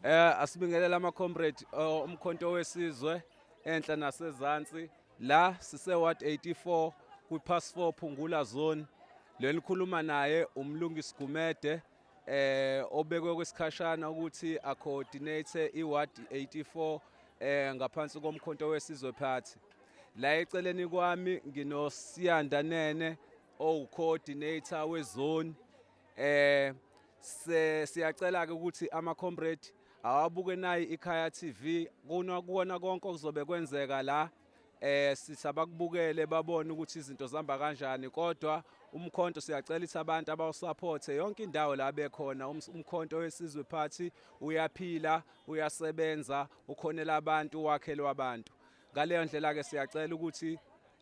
Eh asibingelela ama comrade eh, umkhonto wesizwe enhla nasezansi la sise ward 84 kwi pass 4 Phungula zone lenikhuluma naye umlungisi Gumede eh obekwe kwesikhashana ukuthi acoordinate iward 84 eh ngaphansi komkhonto wesizwe party la eceleni kwami nginosiyanda nene owucoordinator wezone eh siyacela ke ukuthi ama comrade awabuke nayi ikhaya TV kuna kuona konke okuzobe kwenzeka la eh sitha bakubukele babone ukuthi izinto zihamba kanjani kodwa umkhonto siyacela ithi abantu abawusupport yonke indawo la bekhona um, umkhonto wesizwe party uyaphila uyasebenza ukhonela abantu wakhelwa abantu ngaleyo ndlela ke siyacela ukuthi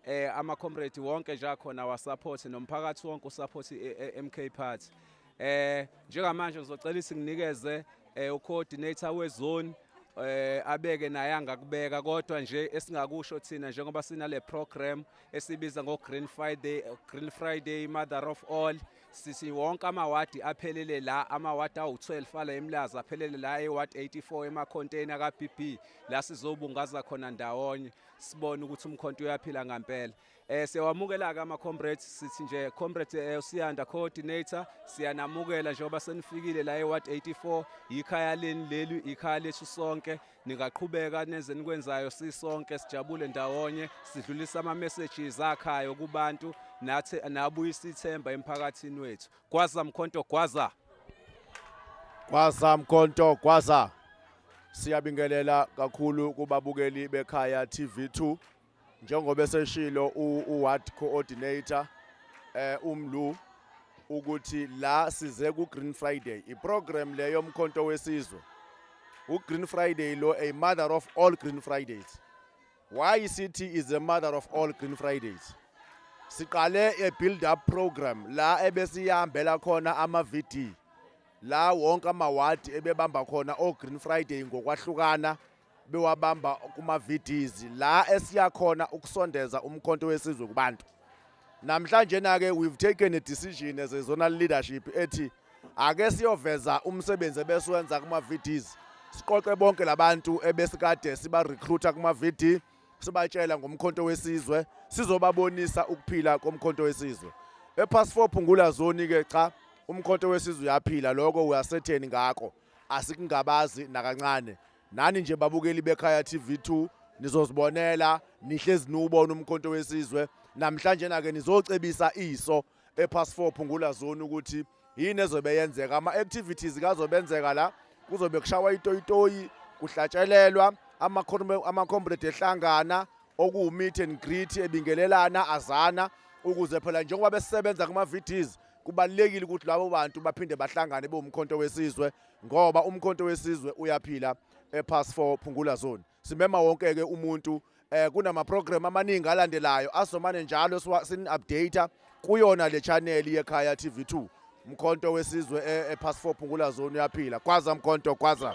eh ama comrade wonke nje akhona wa support nomphakathi wonke u support i-MK party Eh njengamanje ngizocela isinginikeze eh ucoordinator wezone eh abeke naye angakubeka kodwa nje esingakusho thina njengoba sinale program esibiza ngo Green Friday Green Friday Mother of All sisi wonke amawadi aphelele la amawadi awu12 ala emlaza aphelele la eward 84 ema container ka BB la sizobungaza khona ndawonye sibone ukuthi umkhonto uyaphila ngempela Eh siyawamukela ke ama comrades sithi nje comrade eh, usiyanda coordinator siyanamukela njengoba senifikile la eWard 84 yikhaya leni leli ikhaya lethu sonke ningaqhubeka nenze nikwenzayo sisonke sijabule ndawonye sidlulisa ama messages akhayo kubantu nathi nabuyisa ithemba emphakathini wethu gwaza mkhonto gwaza gwaza mkhonto gwaza siyabingelela kakhulu kubabukeli bekhaya TV2 njengoba eseshilo uward coordinator eh umlu ukuthi la size ku Green Friday iprogram le yomkhonto wesizwe u Green Friday lo a mother of all Green Fridays why city is a mother of all Green Fridays siqale a build up program la ebesiyambela khona ama VD la wonke ama ward ebebamba khona o Green Friday ngokwahlukana bewabamba kuma-VDs la esiyakhona ukusondeza umkhonto wesizwe kubantu namhlanje na-ke we've taken a decision as a zonal leadership ethi ake siyoveza umsebenzi ebesiwenza kuma-VDs siqoqe bonke labantu ebesikade siba-recruiter kuma-VD sibatshela ngomkhonto wesizwe sizobabonisa ukuphila komkhonto wesizwe ephasifo phungula zoni-ke cha umkhonto wesizwe uyaphila lokho uyasetheni ngakho asikungabazi nakancane nani nje babukeli bekhaya TV2 nizozibonela nihlezi niwubona umkhonto wesizwe namhlanje nake nizocebisa iso epass 4 phungula zone ukuthi yini ezobe yenzeka ama activities kazobenzeka la kuzobe kushawa itoyitoyi kuhlatshelelwa ama comrade ehlangana okuwu meet and greet ebingelelana azana ukuze phela njengoba besebenza kuma VDs kubalulekile ukuthi labo bantu baphinde bahlangane bewumkhonto wesizwe ngoba umkhonto wesizwe uyaphila epass 4 phungula zone simema wonke ke umuntu eh kunama program amaningi alandelayo asomane njalo sin update kuyona le channel yekhaya TV2 mkhonto wesizwe epass eh, 4 phungula zone uyaphila kwaza mkhonto kwaza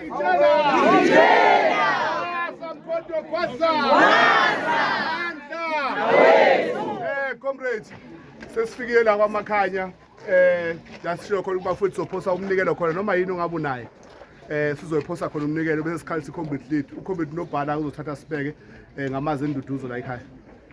Eh, comrades sesifikile la kwamakhanya eh jasisho khona ukuba futhi sophosa umnikelo khona noma yini ongabe unayo eh sizoyiphosa khona umnikelo bese sikhalisa i-combat lead u-combat nobhala uzothatha sibeke eh, ngamazi enduduzo la ekhaya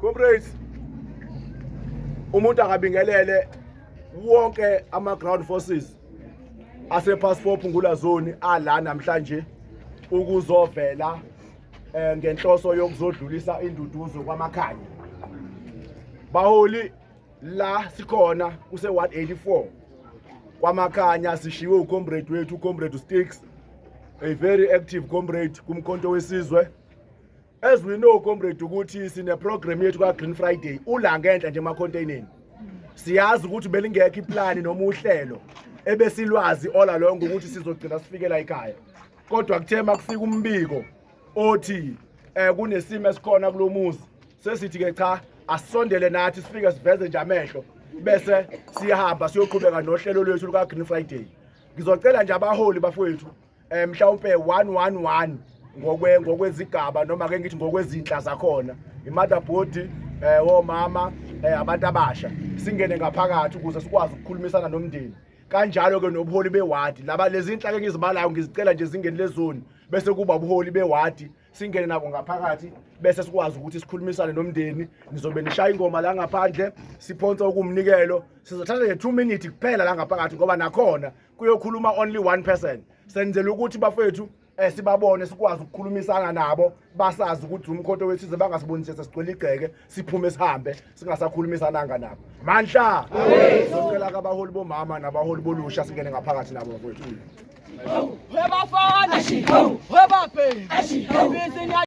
Comrades umuntu akabingelele wonke ama ground forces ase passport ngula zone ala namhlanje ukuzovela eh, ngenhloso yokuzodlulisa induduzo kwamakhanya baholi la sikhona kuse 184 kwamakhanya sishiwe ucomrade wethu ucomrade sticks a very active comrade kumkhonto wesizwe as we know comrade ukuthi sine program yethu ka Green Friday ula ngenhla nje ema containeni siyazi ukuthi belingekho iplan noma uhlelo ebesilwazi ola lonke ukuthi sizogcina sifikela ekhaya kodwa kuthe makufika umbiko othi eh kunesimo esikhona kulomuzi sesithi ke cha asondele nathi sifike siveze nje amehlo bese siyahamba siyoqhubeka nohlelo lwethu luka Green Friday ngizocela nje abaholi bafowethu eh mhlawumbe 111 ngokwe ngokwezigaba noma ke ngithi ngokwezinhla zakhona imother body eh womama eh abantu abasha singene ngaphakathi ukuze sikwazi ukukhulumisana nomndeni kanjalo ke nobuholi bewadi laba lezinhla ke ngizibalayo ngizicela nje zingene lezoni bese kuba ubuholi bewadi singene nabo ngaphakathi bese sikwazi ukuthi sikhulumisane nomndeni nizobe nishaya ingoma la ngaphandle siphonsa ukumnikelo sizothatha nje 2 minutes kuphela la ngaphakathi ngoba nakhona kuyokhuluma only one person senzela ukuthi bafethu eh sibabone sikwazi ukukhulumisana nabo basazi ukuthi umkhonto wethu ize bangasibonise sesigcwele igceke siphume sihambe singasakhulumisananga nabo mandla sicela kabaholi bomama nabaholi bolusha singene ngaphakathi nabo bafethu Webafana, webaphe, ibizinya